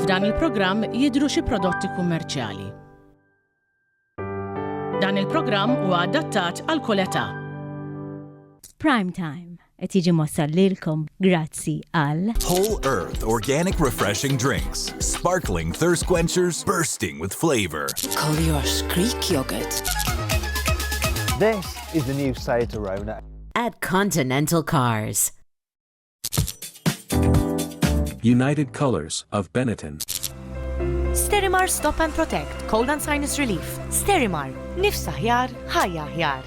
F'dan il-programm jidhru xi prodotti kummerċjali. Dan il-programm huwa adattat għal kull età. Prime Time. Qed jiġi mwassal lilkom grazzi għal. Whole Earth Organic Refreshing Drinks. Sparkling thirst quenchers bursting with flavor. Collier's Greek yogurt. This is the new Seat Arona. At Continental Cars. United Colors of Benetton. Sterimar Stop and Protect, Cold and Sinus Relief. Sterimar, nifsa ħjar, ħajja ħjar.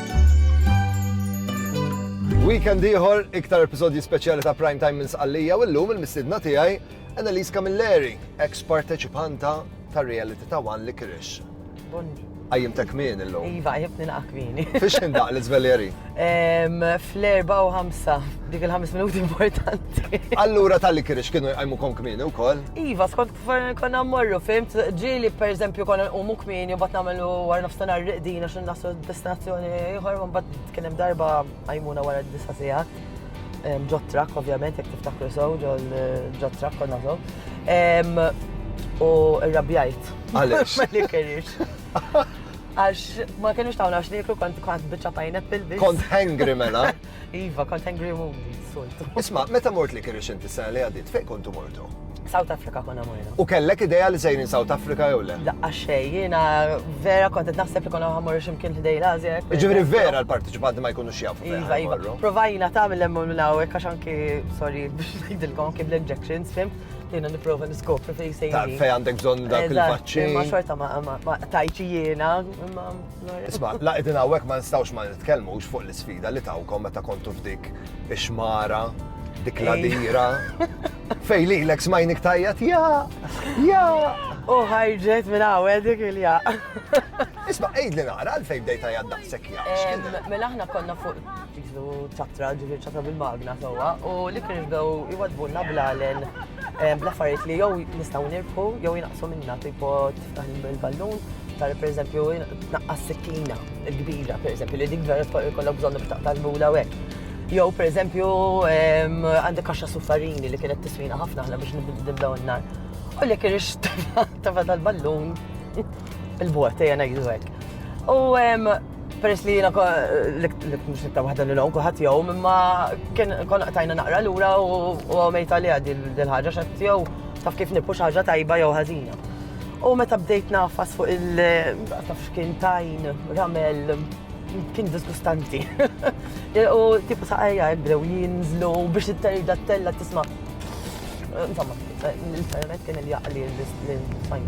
Weekend ieħor, iktar episodji speċjali ta' Prime Time minn Sqallija u llum il-mistidna tiegħi Annalise Camilleri, ex parteċipanta ta' reality ta' One Licorice. Bonni. Għajjim ta' kmin illum. Iva, għajjibni naqa kmini. Fiex indaq l-izveljeri? Fl-4 u 5, dik il-5 minuti importanti. Allura tal-li kirix kienu jgħajmu kon kmini u koll? Iva, skont Forna konna mmorru, fimt, ġili per eżempju konna nqumu kmini u bat namelu għar nafstanar riqdin għax nasu destinazzjoni ieħor ma bat kien hemm darba għajmuna wara d-disa sigħat. Ġotrak, ovvjament, jek tiftakru sew, ġotrak konna sew. U rrabjajt. Għalix. Ma li kerix. Għax ma kienux tawna għax niklu kont kont bieċa pineapple biex. Kont hangry mela. Iva, kont angry moody, soltu. Isma, meta mort li kirixint is-sena li għaddiet, fejn kontu mortu? South Africa konna morna. U kellek ideja li sejrin South Africa jew le? Laqqa xej, jiena vera kont qed naħseb li konna ħamur x'imkien ħdej l-Ażja. Ġifieri vera l-parteċipanti ma jkunux jafu. Iva, iva. Provajna ta' mill-emmol minn hawnhekk għax anki, sorry, biex ngħidilkom anki bl-injections, fim, jiena nipprova niskopri fejn sejrin. Fejn għandek bżonn dak il-vaċċin. Ma xorta ma tajċi jiena, imma Isma, la qegħdin hawnhekk ma nistgħux ma nitkellmux fuq l-isfida li tawkom meta kontu f'dik ix-xmara, dik eh. l-adira. Fej li l-eks majnik tajjat, ja, ja. U ħajġet minn għawel dik il-ja. Isma, ejd li naqra għalfej bdej tajjat daqsek ja. Mela ħna konna fuq fizu ċatra ġiġi ċatra bil-magna sowa u li kien bdew iwadbunna blalen bl-affarijiet li jow nistaw nirpu jow jinaqsu minna tipo Dan il-ballun tar per eżempju naqqas sikkina kbira, per eżempju, li dik vera jkollok bżonn biex taqta' l-mula hekk. Jew per eżempju għandek kaxxa suffarini li kienet tiswina ħafna ħna biex nibdew n-nar. U li kien tafa tal-ballun il-bot, jena jgħidu hekk. U peress li jena l-kmux nitta wahda li l-għon kuħat jow, mimma kien kon tajna naqra l-ura u għamejta li għaddi l-ħagġa xat jow taf kif nippu xaġa tajba jow ħazina. U meta bdejt nafas fuq il- taf x'kien tajn, ramel, kien disgustanti. U tipu saqajja jibdew jinżlu biex it-terġa t-tella tisma. Insomma, l-internet kien il-jaqli l-sajn.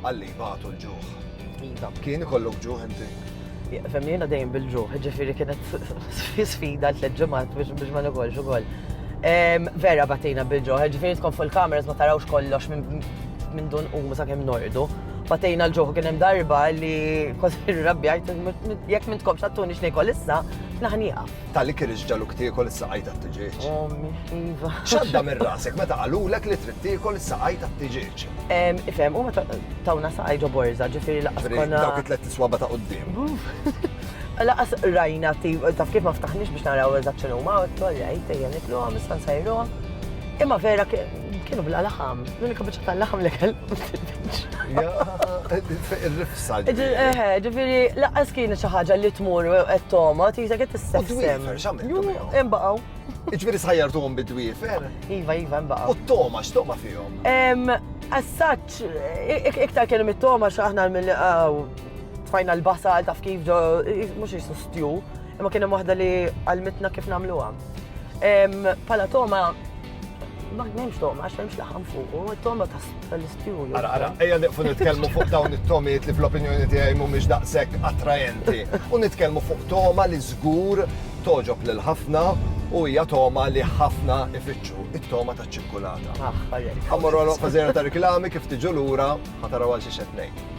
Għalli jbatu l-ġuħ. Iva. Kien ikollok ġuħ inti? Fem jiena dejjem bil-ġuħ, ġifiri kienet sfida tliet ġimgħat biex ma nikolx ukoll. Vera batina bil-ġuħ, ġifiri tkun fuq il-kameras ma tarawx kollox minn dun u sa' kemm nordu. Batejna l-ġuħ kien hemm darba li kważi rabbjajt jekk minn tkomx għattuni xnejkol issa, naħnieqaf. Ta' li kirix ġaluk tiekol is-saqaj tat-tiġieġ. Ommi ħliva. X'għadda minn rasek meta qalulek li trid tiekol is-saqaj tat-tiġieġ? Ifhem, huma tawna saqaj ġo borża, ġifieri lanqas konna. Dawk it-tlett iswaba ta' quddiem. Lanqas rajna taf kif ma ftaħniex biex naraw eżatt x'inhuma, għedt All right, ejja nikluhom, issa nsajruhom. Imma vera kienu bla laħam. L-unika biċċa tal-laħam li kellu. Il-rifsa. Ġifiri, laqqas kien xi ħaġa li tmur qed toma, tisa qed tissessem. Imbaqgħu. Ġifiri sħajjartuhom bid-dwiefer? Iva, iva, imbaqgħu. U t-toma, x'toma fihom? Assaċ, iktar kienu mit-toma x'aħna mill tfajna l-basal taf kif ġo, mhux jisu stju, imma kien hemm waħda li għalmitna kif nagħmluha. Pala toma Ma nemx toma, għax memx laħam fuq, u toma ta' l-istiju. Ara, ara, eja niqfu nitkelmu fuq dawn it-tomiet li fl-opinjoni tiegħi mhumiex daqshekk attraenti. U nitkellmu fuq toma li żgur toġob lil ħafna u hija toma li ħafna ifittxu, it-toma ta' ċikkulata. Ah, Għamorru għal fażera ta' reklami kif tiġu lura ħataraw għal xi xed ngħid.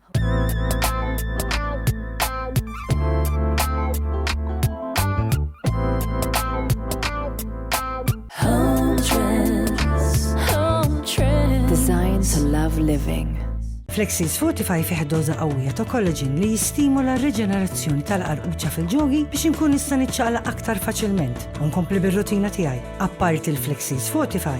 Designed to love living. Flexis Fortify fih doża qawwija ta' kollaġin li jistimula r-riġenerazzjoni tal-qarquċċa fil-ġogi biex inkun nista' niċċaqla aktar faċilment u nkompli bir-rutina tiegħi. Apparti l-Flexis Fortify,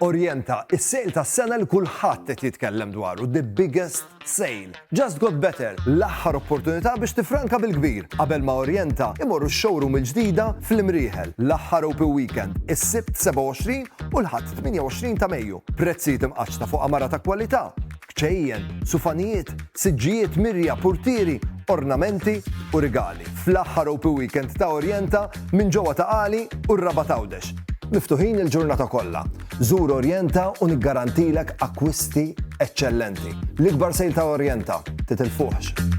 Orjenta, is-sale tas-sena li kulħadd qed jitkellem dwaru, the biggest sale. Just Got Better, l-aħħar opportunità biex tiffranka bil-kbir qabel ma Orjenta imorru x-showroom il-ġdida fl-Imrieħel, l-aħħar OP weekend, is-Sibt 27 u l-Ħadd 28 ta' Mejju. Prezzijiet imqaċċta fuq għamara ta' kwalità, kċejjen, sufanijiet, siġġijiet, mirja, purtieri, ornamenti u rigali, fl-aħħar Opi Weekend ta' Orjenta minn ġewwa ta' Qali u r-Rabat Għawdex. Miftuħin il-ġurnata kollha. Żur Orjenta u niggarantilek akkwisti eċċellenti. L-ikbar sale ta' Orjenta, titilfuhx!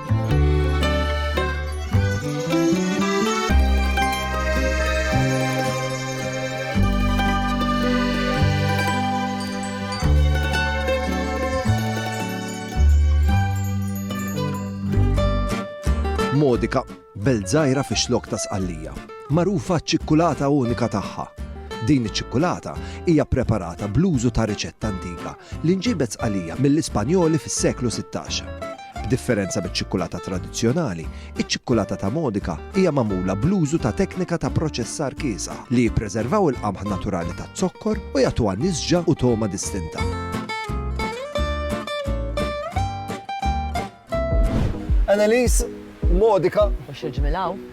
Modika, belżajra fi xlok ta' sqallija, marufa ċ-ċikkulata unika tagħha. Din iċ-ċikkulata hija preparata bl-użu ta' riċetta antika li nġibet sqalija mill-Ispanjoli fis-seklu 16. B'differenza miċ-ċikkulata tradizzjonali, iċ-ċikkulata ta' Modica hija magħmula bl-użu ta' teknika ta' proċessar kiesaħ li jippreservaw il-qamħ naturali taz-zokkor u jagħtuha nisġa u togħma distinta. Annelies, Modica. Mhux il-ġmiel hawn.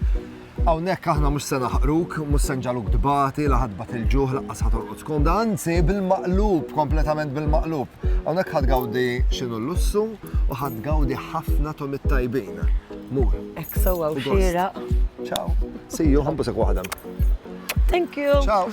Hawnhekk aħna mhux se naħqruk, mhux se nġaluk tbati, la ħadbat il-ġuħ laqqas ħatorqod skomda, anzi bil-maqlub, kompletament bil-maqlub. Hawnhekk ħad gawdi x'inhu l-lussu u ħad gawdi ħafna tomit tajbin. Mur. Ek sewwa u xira. Ciao. See you, ħambusek waħda. Thank you. Ciao.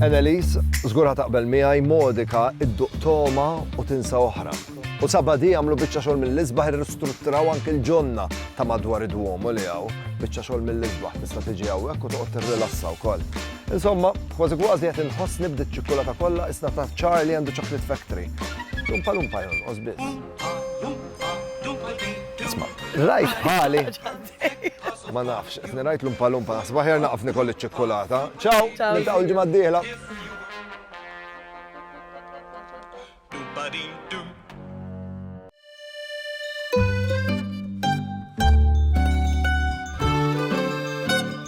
Annelies, żgur ħa taqbel miegħi modika idduq toma u tinsa oħra. U sabadi għamlu biċċa xogħol mill-isbaħ irristrutturaw anke l-ġonna ta' madwar id-duomu li hawn. Biċċa xogħol mill-isbaħ tista' tiġi hawnhekk u toqgħod tirrilassa wkoll. Insomma, kważi kważi qed inħoss nibdi ċ-ċikkulata kollha isna ta' Charlie għandu Chocolate Factory. Lumpa lumpa jon, osbis. Rajt bħali. Ma nafx, qed nirajt lumpa lumpa naħseb aħjar naqaf nikol iċ-ċikkulata. Ciao, niltaqgħu l-ġimgħa d-dieħla.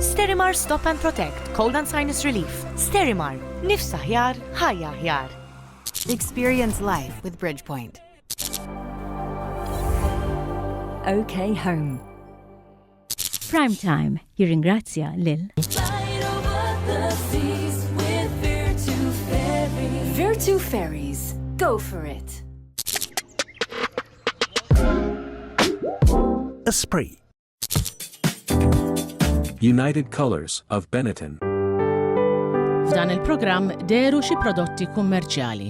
Sterimar Stop and Protect, Cold and Sinus Relief. Sterimar, nifs aħjar, ħajja aħjar. Experience life with Bridgepoint. OK Home. Prime Time jirringrazzja lil Virtu Ferries. Go for it. Esprit United Colors of Benetton. F'dan il-programm deru xi prodotti kummerċjali.